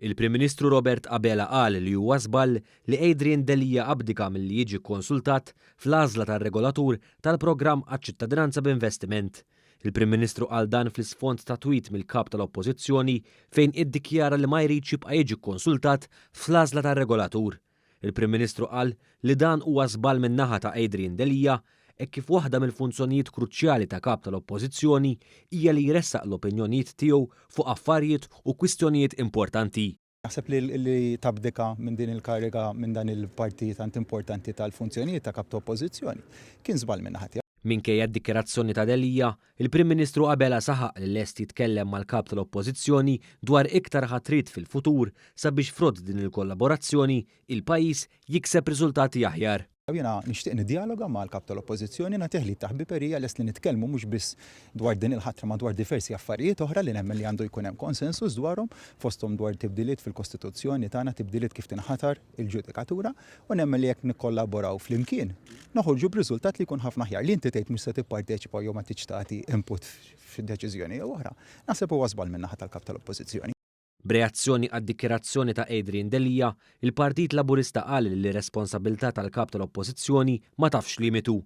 Il-Prim Ministru Robert Abela qal li huwa żball li Adrian Delia abdika milli jiġi kkonsultat fl-għażla tar-regolatur tal-programm għaċ-ċittadinanza b'investiment. Il-Prim Ministru qal dan fl-isfond ta' tweet mill-Kap tal-Oppożizzjoni fejn iddikjara li ma jridx jibqa' jiġi kkonsultat fl-għażla tar-regolatur. Il-Prim Ministru qal li dan huwa żball min-naħa ta' Adrian Delia hekk kif waħda mill-funzjonijiet kruċjali ta' Kap tal-Oppożizzjoni hija li jressaq l-opinjonijiet tiegħu fuq affarijiet u kwistjonijiet importanti. Naħseb li li tabdika minn din il-kariga minn dan il-parti tant importanti tal-funzjonijiet ta' Kap ta' Oppożizzjoni kien żball min-naħa tiegħu. Minkejja d-dikjarazzjoni ta' Delia Il-Prim Ministru Abela saħaq li lest jitkellem mal-Kap tal-Oppożizzjoni dwar iktar ħatriet fil-futur sabiex frott din il-kollaborazzjoni, il-pajjiż jikseb riżultati aħjar. Jiena nixtieq niddjaloga mal-Kap tal-Oppożizzjoni, nagħtih l-id ta' ħbiberija, lest li nitkellmu mhux biss dwar din il-ħatra ma dwar diversi affarijiet oħra li nemmen li għandu jkun hemm konsensus dwarhom, fosthom dwar tibdiliet fil-Kostituzzjoni tagħna, tibdiliet kif tinħatar. il-ġudikatura u nemmen li jekk nikkollaboraw flimkien noħorġu b'riżultat li jkun ħafna aħjar. Li inti tgħid mhux se tipparteċipa jew ma tridx tagħti input f'xi deċiżjoni jew oħra, naħseb huwa żball minn naħa tal-Kap tal-Oppożizzjoni. B'reazzjoni għad-dikjarazzjoni ta' Adrian Delia, il-Partit Laburista qal li r-responsabbiltà tal-Kap tal-Oppożizzjoni ma tafx limitu.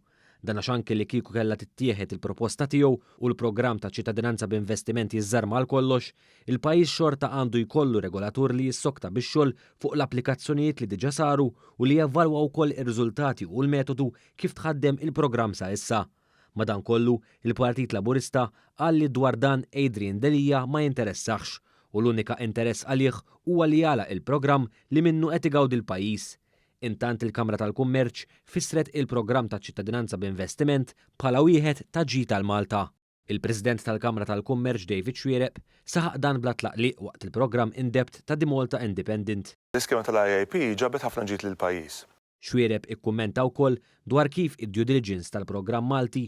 Dan għax anki li kieku kellha tittieħed il-proposta tiegħu u l-programm ta' ċittadinanza b'investiment jiżżarma għal kollox, il-pajjiż xorta għandu jkollu regolatur li jissokta bix-xogħol fuq l-applikazzjonijiet li diġà saru u li jevalwa wkoll ir-riżultati u l-metodu kif tħaddem il-programm sa issa. Madankollu, il-Partit Laburista qal li dwar dan Adrian Delia ma jinteressahx u l-unika interess għalih huwa li jagħlaq il-programm li minnu qed igawdi l-pajjiż. Intant il-Kamra tal-Kummerċ fissret il-programm taċ-Ċittadinanza b'Investiment bħala wieħed ta' ġid għal Malta. Il-President tal-Kamra tal-Kummerċ David Xuereb saħaq dan bla tlaqliq waqt il-programm in-depth ta' The Malta Independent. L-iskema tal-IIP ġabet ħafna ġid lill-pajjiż. Xuereb ikkummenta wkoll dwar kif id-due diligence tal-programm Malti